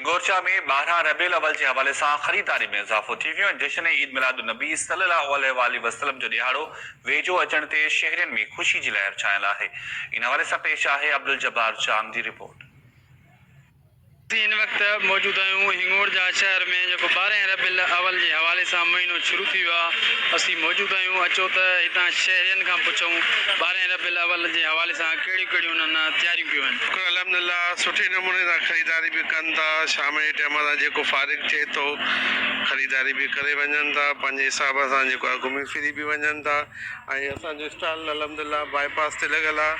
گورچا ۾ ٻارهن ربيع الاول جي حوالي سان خريداري ۾ اضافو ٿي ويو ۽ جشن عيد ميلاد النبي صلي الله عليه واٰله وسلم جو ڏهاڙو ويجهو اچڻ تي شهرين ۾ خوشي جي لهر ڇانيل آهي ان حوالي سان پيش آهي عبدالجبار چام جي رپورٽ. اسين هن وقت موجود آهيون هنڱور جا شهر ۾ جيڪو ٻارهن ربيع الاول جي حوالي سان مهينو شروع ٿي ويو آهي اسين موجود آهيون اچو ته هتان شهرين کان پڇون ٻارهن ربيع الاول جي حوالي سان ڪهڙيون ڪهڙيون انهن ڏانهن تياريون ڪيون ويون. شڪر الحمدلله سٺي نموني سان خريداري به ڪن ٿا شام جي ٽيم تان جيڪو فارغ ٿئي ٿو خريداري به ڪري وڃن ٿا پنهنجي حساب سان جيڪو آهي گهمي ڦري به وڃن ٿا ۽ اسان جو اسٽال الحمدلله باء پاس تي لڳل آهي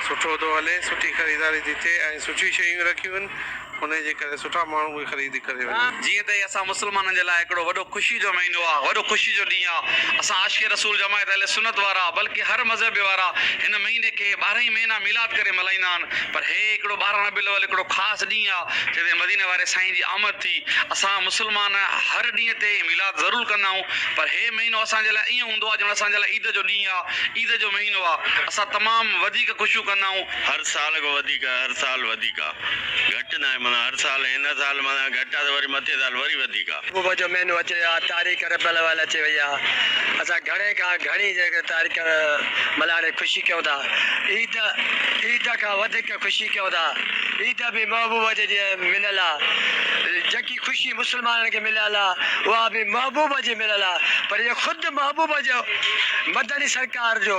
سٺو ٿو هلي سٺي خريداري ٿي ٿئي ۽ سٺيون شيون رکيون آهن انهيء جي ڪري سٺا ماڻهو به خريد ڪري وڃن. جيئن ته هي اسان مسلمانن جي لاء هڪڙو وڏو خوشي جو مهينو آ، وڏو خوشي جو ڏينهن آ. اسان عاشق رسول جماعت اهل سنت وارا بلڪه هر مذهب وارا هن مهيني کي ٻارهن ئي مهينا ميلاد ڪري ملهائيندا آهن پر هي هڪڙو ٻارهن ربيع الاول هڪڙو خاص ڏينهن آ جنهن تي مديني واري سائين جي آمد ٿي. اسان مسلمان هر ڏينهن تي ميلاد ضرور ڪندا آهيون پر هي مهينو اسان جي لاء ائين هوندو آ ڄڻ اسان جي لاء عيد جو ڏينهن آ، عيد جو مهينو آ. اسان تمام وڌيڪ خوشيون ڪندا آهيون. هر سال کان وڌيڪ هر سال وڌيڪ. گهٽ ناهي معنيٰ هر سال هن سال معنيٰ گهٽ آ ته وري مٿين سال وري وڌيڪ آ. صبح جو مهينو اچي ويو آ تاريخ ربيع الاول اچي وئي آ اسان گهڻي کان گهڻي جيڪي تاريخ ملهاڙي خوشي ڪيون ٿا عيد عيد کان وڌيڪ خوشي ڪيون ٿا عيد به محبوب جي جي مليل آ جيڪي خوشي مسلمانن کي مليل آ اها به محبوب جي مليل آ پر اهي خود محبوب جو مدني سرڪار جو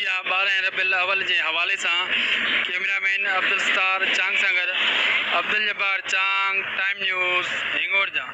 جا ٻارهن ربيع الاول جي حوالي سان ڪيمرا مين عبدالستار چانگ سان گڏ عبدالجبار چانگ، ٽائيم نيوز، هنگور جان.